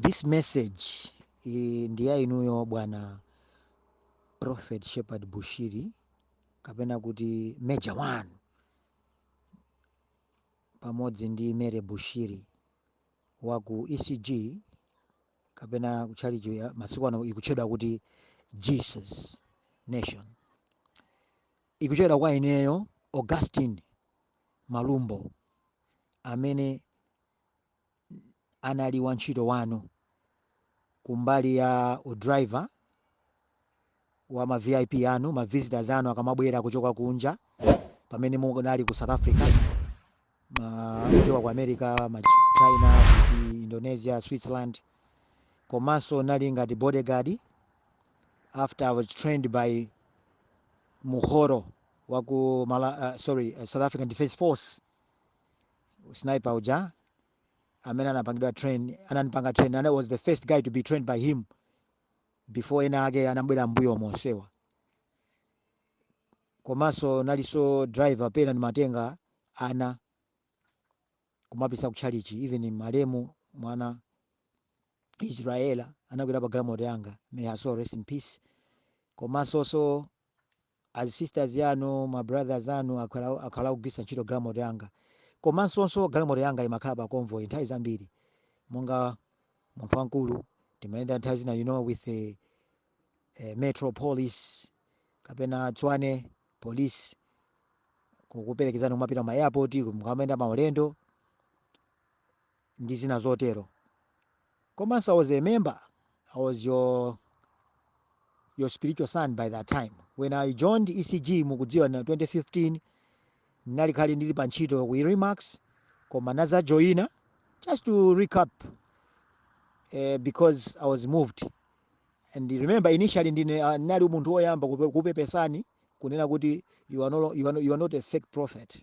this message eh, ndi ya inuyo bwana prophet shepherd bushiri kapena kuti major one pamodzi ndi mary bushiri wa ku ecg kapena kutchalichi ya- masiku ano ikutchedwa kuti jesus nation ikuchokera kwa ineyo augustin malumbo amene anali wantchito wanu kumbali ya u driver wa ma VIP anu, ma visitors anu akamabwera kuchoka kunja pamene munali ku South Africa, ma kuchoka ku America, China, kuti Indonesia, Switzerland, komanso nali ngati bodyguard after I was trained by Muhoro wa ku Mala, uh, sorry, uh, South African Defence Force sniper uja amene anapangidwa ananipanga train and I was the first guy to be trained by him before ena ake anabwera mbuyo monsewa komanso nalinso driver pena ndimatenga ana kumapisa kutchalichi even malemu mwana Israela anakwera pa galimoto yanga may her soul rest in peace komanso so azi sisters anu ma brothers anu akhala akugwiritsa ntchito galimoto yanga komansonso galimoto yanga imakhala pa convoy nthawi zambiri monga munthu wamkulu timayenda nthawi zina you know with the eh, metro police kapena tswane police kukuperekezani kumapita ma airport mukamayenda maulendo ndi zina zotero komanso i was a member i was your your spiritual son by that time when i joined ecg mukudziwa na 2015 nali kale ndili pa ntchito ku remax koma nazajoyina just to recap uh, because i was moved and remember initially ndine uh, ndinali munthu woyamba kupe- kupepesani kunena kuti you are, no, lo- you, are no, you are not a fake prophet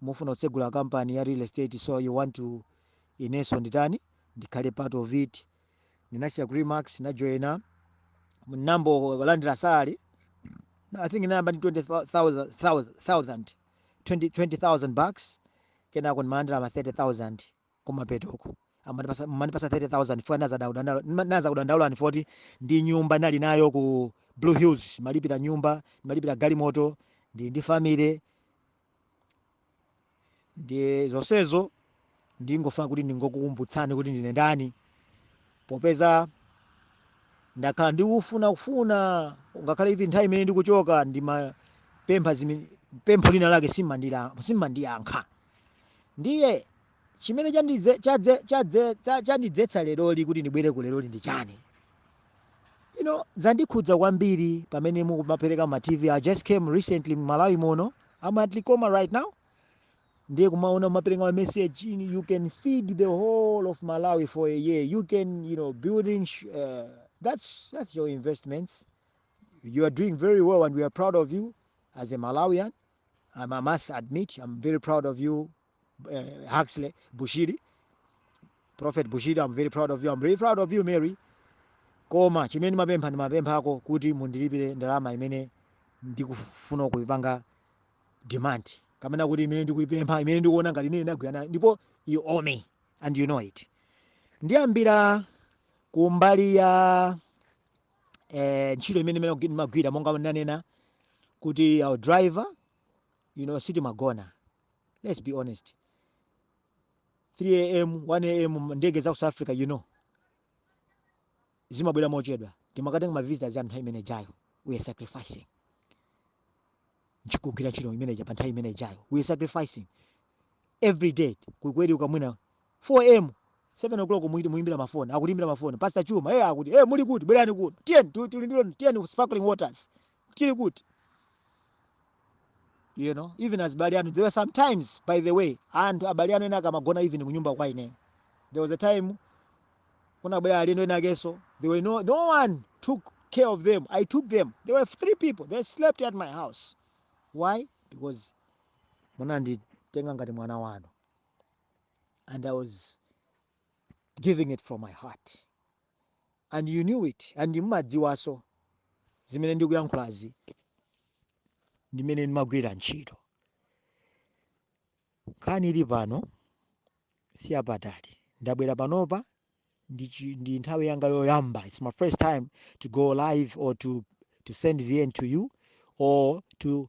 mufuna kutsegula company ya real estate so you want to inenso nditani ndikhale part of it ndinasiya ku remax najoina nambo landira salary i think nayamba ndi 20000 20000 bucks kenako ndimalandira ma 30000 kumapetoko amandipasa mandipasa 30000 funa naza kudandaula ni 40 ndi nyumba nali nayo ku blue hills malipira nyumba malipira galimoto ndi ndi family ndiye zonsezo ndingofuna kuti ndingokukumbutsani kuti ndine ndani popeza ndakhala ndikufuna kufuna ngakhale even nthawi imene ndikuchoka ndimapempha zimene pempho lina lake simandira- simandiyankha ndiye chimene chandidze- chadze- chadze- cha- chandidzetsa leroli kuti ndibwere ku leroli ndi chani you know zandikhudza kwambiri pamene mukumapereka ma tv i just came recently mmalawi muno i'm at likoma right now ndiye kumaona mukumapereka ma message in, you can feed the whole of malawi for a year you can you know building sh- uh, that's that's your investments you are doing very well and we are proud of you as a malawian I'm, i must admit i'm very proud of you uh, Huxley, Bushiri, Prophet Bushiri, I'm very proud of you. I'm very proud of you, Mary. Koma chimene ndimapempha ndimapemphako kuti mundilipire ndalama imene ndikufuna kuipanga demand kapena kuti imene ndikuipempha imene ndikuona ngati ine ndagwira nayo ndipo you owe me and you know it. Ndiyambira kumbali ya eh, ntchito imene imene ndimagwira monga ndanena kuti our driver you know sitimagona let's be honest 3 am 1 am ma- ndege za ku south africa you know zimabwera mochedwa timakatenga ma visitors a nthawi imene ijayo we are sacrificing ndikugwira ntchito imene ija pa nthawi imene ijayo we are sacrificing every day kukweriuka mwina 4 am 7 o'clock muyi- muyimbira mafoni akutiimbira mafoni pastor chuma eh akuti eh muli kuti bwerani kuno tiyeni tu- tili ndilo tiyeni ku sparkling waters tili kuti you know even azibale anu there were sometimes by the way and abale anu ena ankamagona even kunyumba kwa ine there was a time kunabwera alendo ena akenso they were no, no one took care of them i took them there were three people they slept at my house why because munanditenga ngati mwana wanu and i was giving it from my heart and you knew it and mumadziwanso zimene ndikuyankhulazi ndimene ndimagwirira ntchito nkhani ili pano siyapatali ndabwera panopa ndi, chi- ndi nthawi yanga yoyamba its my first time to go live or to, to send vn to you or to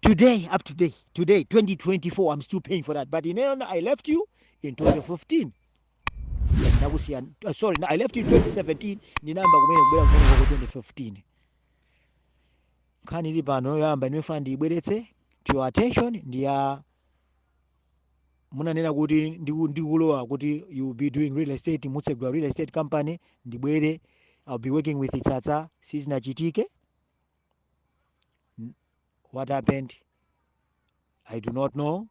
today up to day today 2024 i'm still paying for that but ineyo na- i left you in 2015 ndakusiya uh, sorry i left you in 2017 ndinayamba kumene kubwera kuno kwa 2015 nkhani ili pano yoyamba imene ndimafuna ndiyibweretse to your attention ndi ya munanena kuti ndiku- ndikulowa kuti you will be doing real estate mutsegula real estate company ndibwere i'll be working with itsatsa sizinachitike N- what happened i do not know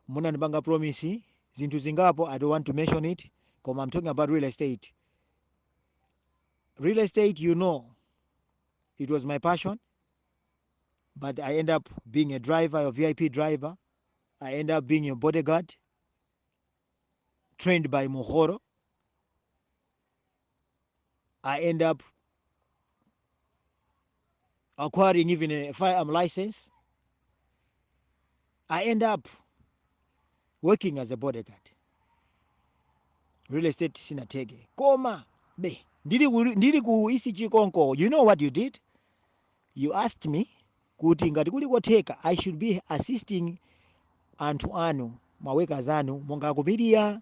munandipanga promise zinthu zingapo i don't want to mention it koma i'm talking about real estate real estate you know it was my passion but i end up being a driver a vip driver i end up being a bodyguard trained by muhoro i end up acquiring even a firearm license. I end up working as a bodyguard. Real estate sinatheke. Koma be ndili ku, ndili ku ECG konko. You know what you did? You asked me kuti ngati kuli kotheka I should be assisting anthu anu ma workers anu monga akupiria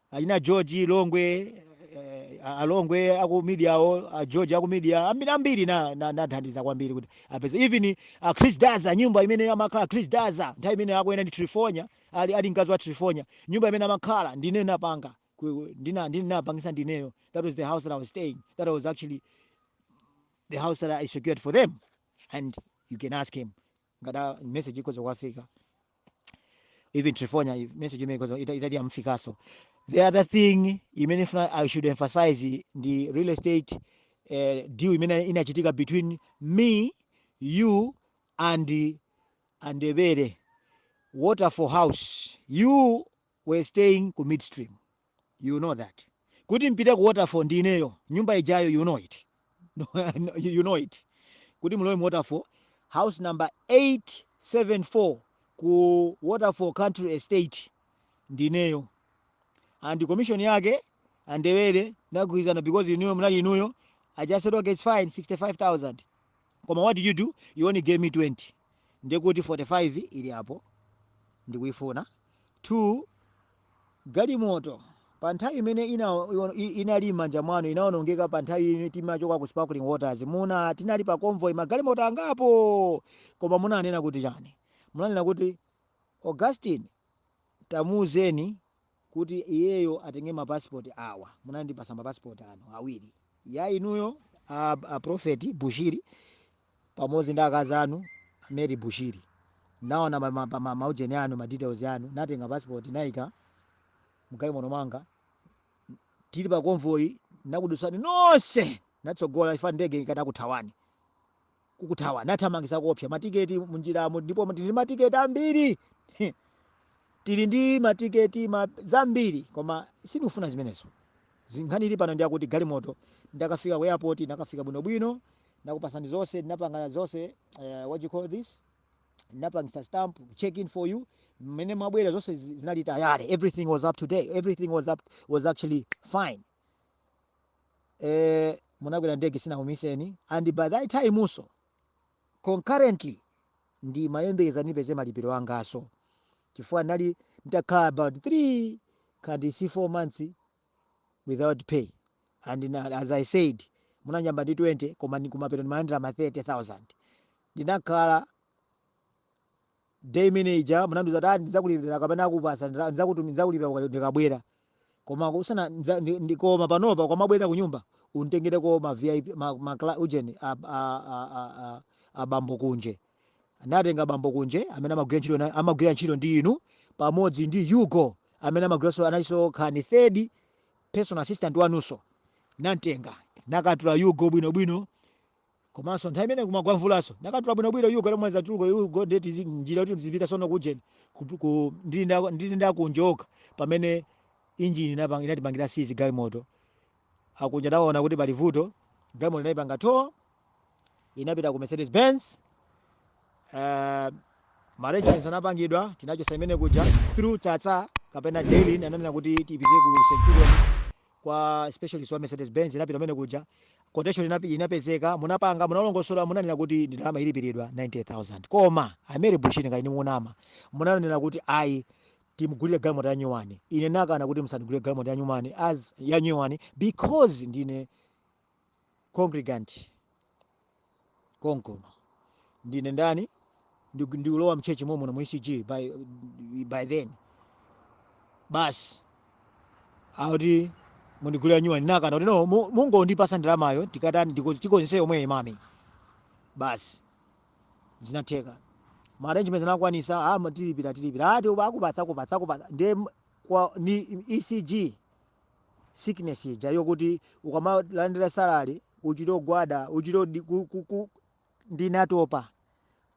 achina george longwe eh, a- alongwe aku media awo a george aku media ambiri ambiri na- na- nathandiza kwambiri kuti apeze even a chris daza nyumba imene amakhala chris daza nthawi imene akuyenda ndi trifonya ali, ali mkazi wa trifonya nyumba imene amakhala ndine napanga ku- ndina- ndine napangisa ndineyo that was the house that i was staying that was actually the house that i secured for them and you can ask him ngati a- message ikhoza kuwafika even Trifonia if message imene ikhoza ita- itati yamufikaso the other thing imene funa i should emphasize ndi real estate uh, deal imene inachitika between me you and andewere waterfall house you were staying ku midstream you know that kuti mpite ku waterfall ndi ineyo nyumba ijayo you know it No, no, you you know it kuti mulowe mu waterfall house number 874 ku waterfall country estate ndineyo and commission yake andewere ndagwirizana because inuyo munali inuyo i just said okay it's fine 65000 koma what did you do you only gave me 20 ndekuti 45 ili apo ndikuifuna two Galimoto, pa nthawi imene ina, i, inali m'manja mwanu, inawonongeka pa nthawi imene timachoka ku Sparkling Waters. Muna. Tinali pa convoy, magalimoto angapo! Koma munanena kuti chani? Munanena kuti, Augustine, tamuuzeni kuti iyeyo atenge ma passport awa. Munandipatsa ma passport anu awiri. Ya inuyo, a, a Prophet Bushiri, pamodzi ndi akazi anu Mary Bushiri naona ma, ma, ma, ma ujeni anu ma details anu natenga passport naika mgalimoto mwanga tili pa convoy nakudusani nonse natsogola chifukwa ndege ikadakuthawani kukuthawa nathamangisa koopsa matiketi munjiramo ndipo tili ndi matiketi ambiri tili ndi matiketi ma, zambiri koma sindikufuna zimenezo nkhani ili pano ndi yakuti galimoto ndakafika ku airport nakafika bwinobwino nakupasani zonse ndinapanga zonse uh, what you call this ndinapangisa stamp check in for you mmene mumabwera zonse zi- zinali tayari everything was up to date everything was up was actually fine eh munakwera ndege sinakumiseni and by that timeso concurrently ndimayembekeza nipeze malipiro angaso chifukwa ndinali nditakhala about 3 ngati si 4 months without pay and na, as i said munanyamba ndi 20 koma ni kumapeto ndimalandira ma 30000 ndinakhala day imene ija munandiuza kuti "Ah, ndidzakulipira kapena ndikupasa ndala- ndidzakutumi- ndidzakulipira uka- ndikabwera koma usana ndza- ndi- ndi- koma panopa ukamabwera ku nyumba untengereko ma vip ma, ma, cla- ujeni a, a, a, a, a, a bambo kunje ndinatenga bambo kunje amene amagwira ntchito na- amagwira ntchito ndi inu pamodzi ndi hugo amene amagwiranso analinso ngati third personal assistant wanunso nantenga nakatula hugo bwinobwino komanso nthawi imene kumagwa mvulanso nakatula bwinobwino hugo lomweza tuluko hugo ndeti zi- njira kuti ndizipita sono kujeni ku- ku- ndili nda- ndili ndakunjoka pamene injini inapang- inatipangira seize galimoto akunja naona kuti pali vuto galimoto anayipanga tow inapita ku mercedes benz uh, maarrangement anapangidwa tinachosa kumene kuja through tsatsa kapena dailin ananena kuti tipite ku centurion kwa specialist wa mercedes benz inapita kumene kuja quotation inapi- inapezeka munapanga munalongosola munanena kuti ndalama ilipiridwa 90000 koma a mary bushiri kaya ndi mama munanena kuti ayi timugulire galimoto yanyuwani ine nakana kuti musandigulire galimoto yanyuwani as yanyuwani because ndine congregant konkuno ndine ndani Ndi- ndikulowa mchechi momuno mu ecg by, by then basi akuti mundigulira yanyuwani ndinakana kuti no mu- mungondipasa ndalamayo tikatani ndiko- tikonzese yomweyi mami basi zinatheka maarrangement anakwanisa ama tilipira tilipira ati uba akupatsa akupatsa akupatsa ndiye m- kwa ni ecg sickness ija yokuti ukamalandira salary uchite kugwada uchite odi- ku- ku- ku- ndinatopa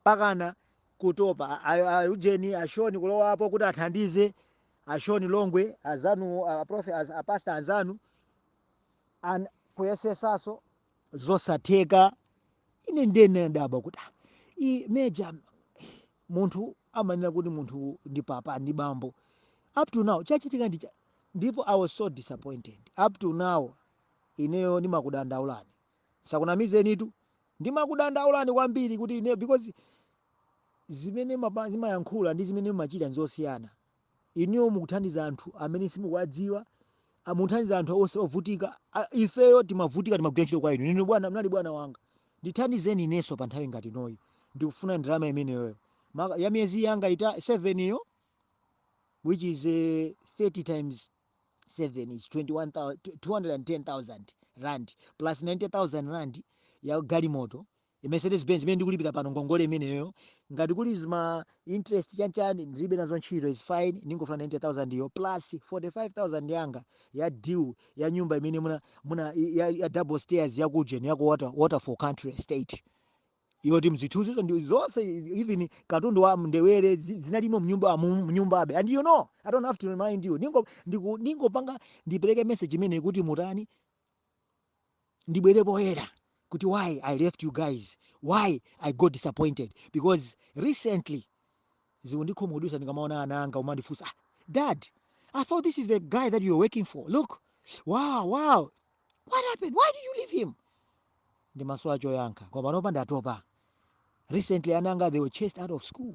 pakana kutopa A- a- a- ujeni ashoni kulowapo kuti athandize ashoni longwe azanu aprofe apasta anzanu an- kuyesesaso zosatheka ine ndinadabwa kuti "Ah, i meja munthu amanena kuti munthu ndi papa ndi bambo up to now chachitika ndi cha- ndipo i was so disappointed up to now ineyo ndimakudandaulani sakunamizenitu ndimakudandaulani kwambiri kuti ineyo because zimene mapa- mumayankhula ndi zimene mumachita nzosiyana inuyo mukuthandiza anthu amene simukuwadziwa a- mukuthandiza anthu onse ovutika A- ifeyo timavutika timagwira ntchito kwa inu inu bwana munali bwana wanga Ndithandizeni inenso pa nthawi ngati inoyi. Ndikufuna ndalama imeneyoyo. Maka, ya miyezi yanga ita, seven yo, which is eh, 30 times seven is 21, thou- 210,000 rand plus 90,000 rand ya galimoto, Mercedes Benz imene ndikulipira pano ngongole imeneyoyo. Ngati kuli zima interest chanchan ndilibe nazo ntchito is fine ndingofuna 90000 yo plus 45000 yanga ya deal ya nyumba imene muna muna- ya, ya double stairs ya kujeni ya ku Water, Waterfall Country estate yoti mzithuzizo ndi zonse even katundu wa mndewere zi- zinalimo mnyumba amu- mnyumbabe and you know i don't have to remind you ningo ndiku- ndingopanga ndipereke message imene kuti mutani ndibwere poyera kuti why i left you guys why i got disappointed because recently zikundikhumudwisa ndikamaona ana anga akumandifunsa "Ah, dad i thought this is the guy that you were working for look wow wow what happened why did you leave him ndimasowa choyankha koma panopa ndatopa recently ana anga they were chased out of school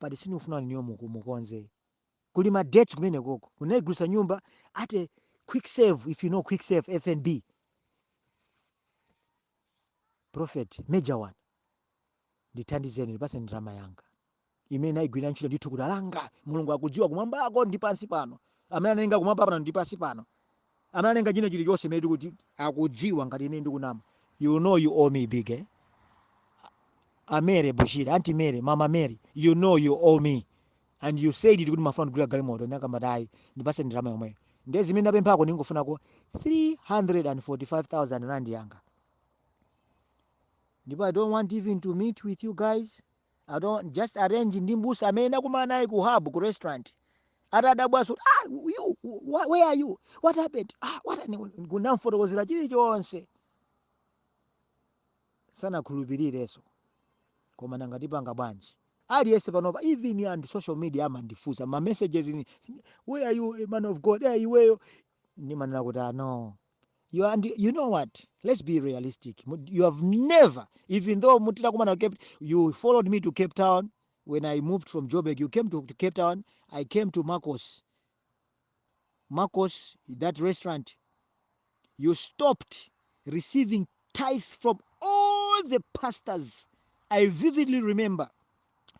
but sinifuna ineyo muku mukonze kuli ma debts kumene koko munaigulisa nyumba at a quick sale if you know quick sale fnb prophet major one ndithandizeni ndipase ndalama yanga imene naigwirira ntchito ndi thukuta langa mulungu akudziwa kumwambako ndi pansi pano amene analenga kumwamba pano ndi pansi pano analenga china chilichonse mene tikuti akudziwa ngati ine ndikunama you know you owe me big eh? a Mary Bushiri anti Mary mama Mary you know you owe me and you said it kuti mumafuna kundigulira galimoto ndinakamba kuti ayi ndipase ndalama yomweyo ndiye zimene ndapemphako ndingofunako 345000 rand yanga ndipo i don't want even to meet with you guys i don't just arrange ndi mbusa amene nakumana naye ku hub ku restaurant atadabwaso kuti ah, you, wh- where are you what happened ah, what happened?" kunamfotokozera chilichonse sanakhulupirireso koma nanga tipanga bwanji aliyense panopa even anthu a social media amandifusa ma messages ni- where are you a man of god eh ineyo ndimanena kuti ah, no you, are, and you know what let's be realistic Mu- you have never even though mutitakumana ku cape you followed me to cape town when I moved from Joburg, you came to, to Cape Town, I came to Marcos. Marcos, that restaurant, you stopped receiving tithe from all the pastors. I vividly remember.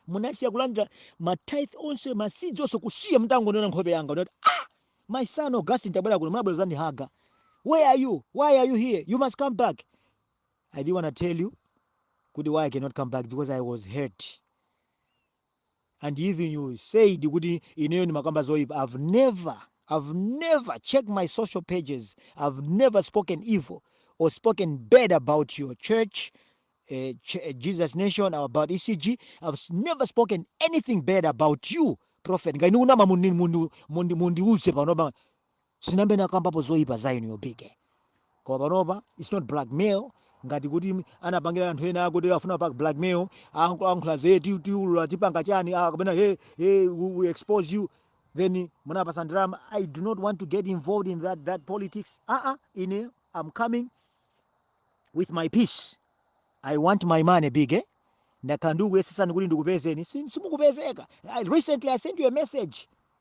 munasiya kulandira matithe onse masidzi onse kusiya mutangonena nkhope yanga unati ah my son augustin tabwera kuno munabwera zandihaga where are you why are you here you must come back i didn't want to tell you kuti why I cannot come back because I was hurt and even you said kuti ineyo ndimakamba zoyipa I've never I've never check my social pages I've never spoken evil or spoken bad about your church uh, Ch- uh, Jesus Nation or about ECG I've s- never spoken anything bad about you prophet ngati ndikunama mundi- mundi- mundi- mundiuze panopa sinambe nakambapo zoyipa za inu yobike koma panopa its not blackmail ngati kuti anapangira anthu ena akuti afuna apange blackmail ankhula ze ti- tiulula tipanga chani ah, kapena hey, hey, we, we expose you then munapasa ndalama i do not want to get involved in that, that politics aa uh -uh, ine i'm coming with my peace i want my money big eh? ndakhala ndikuyesesani kuti ndikupezeni Si- simukupezeka I- recently i sent you a message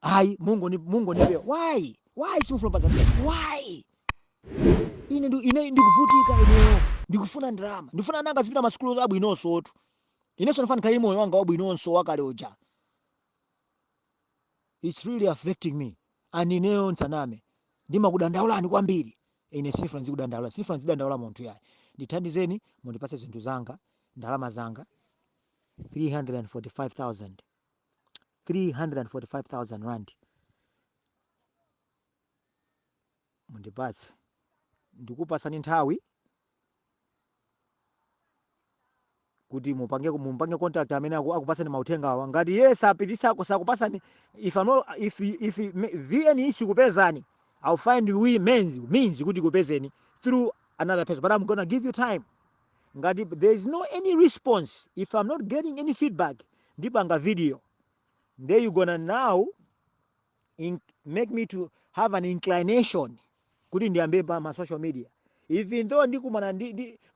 ayi mungoni mungonipewa why why simufuna kupasa why ine ndi ine ndikuvutika ineyo ndikufuna ndalama ndifuna ana anga azipita masukulu abwinonsotu inenso ndifuna ndikhale moyo wanga wabwinonso wakale uja it's really affecting me and ineyo nsaname ndimakudandaulani kwambiri ine sinifuna nzikudandaulani sinifuna nzidandaula munthu yayi ndithandizeni mundipase zinthu zanga ndalama zanga 345000 345,000 rand mundipatse ndikupatsani nthawi kuti mumpange contact amene akupatsani mauthenga awa ngati iye sapititsako sakupatsani if vn sikupezani i'll find means kuti kupezeni through another person but i'm gonna give you time ngati there is no any response if i'm not getting any feedback ndipanga video nde you gonna now make me to have an inclination kuti ndiyambe pa ma social media even though ndikumana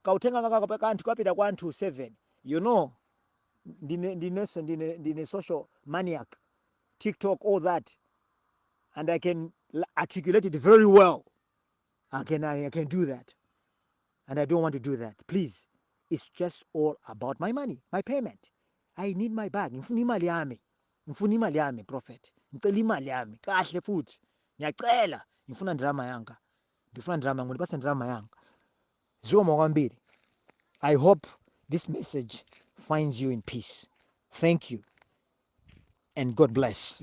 kauthenga aka kapita kwa anthu 7 you know ndine social maniac tiktok all that and i can articulate it very well i can do that and i don't want to do that please its just all about my money my payment i need my bag ngifuna imali yami ngifuna imali yami prophet ngicela imali yami kahle futhi ngiyacela ngifuna ndirama yanga ndifuna ndirama yanga ndipase ndirama yanga zikomo kwambiri i hope this message finds you in peace thank you and god bless